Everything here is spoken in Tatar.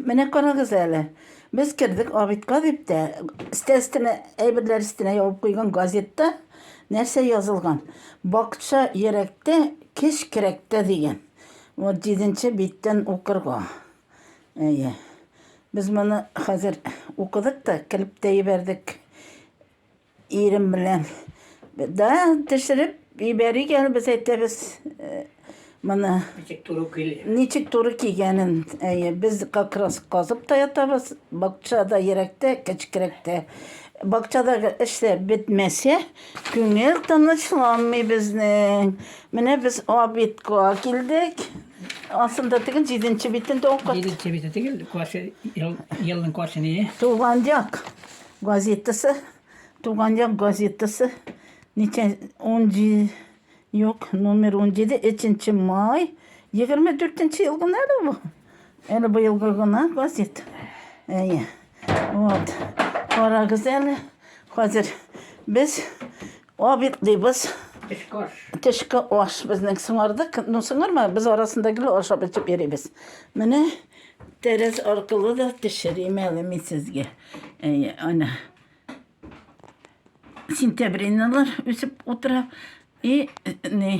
Менә карагыз әле. Без кердек обедка дип тә, өстәл өстенә, әйберләр өстенә ябып куйган газетта нәрсә язылган? Бакча йөрәктә, кеш керәктә дигән. Вот җиденче биттән укырга. Әйе. Без моны хәзер укыдык та, көлеп тә җибәрдек. Ирем белән да төшереп җибәрик әле без әйтәбез э, моны. Ничек туры кил. Ничек туры кигәнен. Әйе, без как раз казып та ятабыз. Бакчада ерәктә, кечкерәктә. Бакчадагы эшләр бетмәсә, күңел тынычланмый безнең. Менә без обидка килдек. Асында тегел җиденче битендә укыт. Җиденче бите тегел, каршы ел, елның каршы не? Туган як. Газетасы, Туган як газетасы, ничә, унҗи, юк, номер унҗиде, өченче май, егерме дүртенче ел гына әле бу. Әле быелгы гына газет. Әйе. Вот. Карагыз әле. Хәзер без Обед дибез. Төшке аш. Төшке аш безнең сыңардык. Ну сыңарма, без арасында гел ашап эчеп йөрибез. Менә тәрәз аркылы да төшерим әле мин сезгә. Әй, ана. Сентябриналар үсеп утыра. И, не,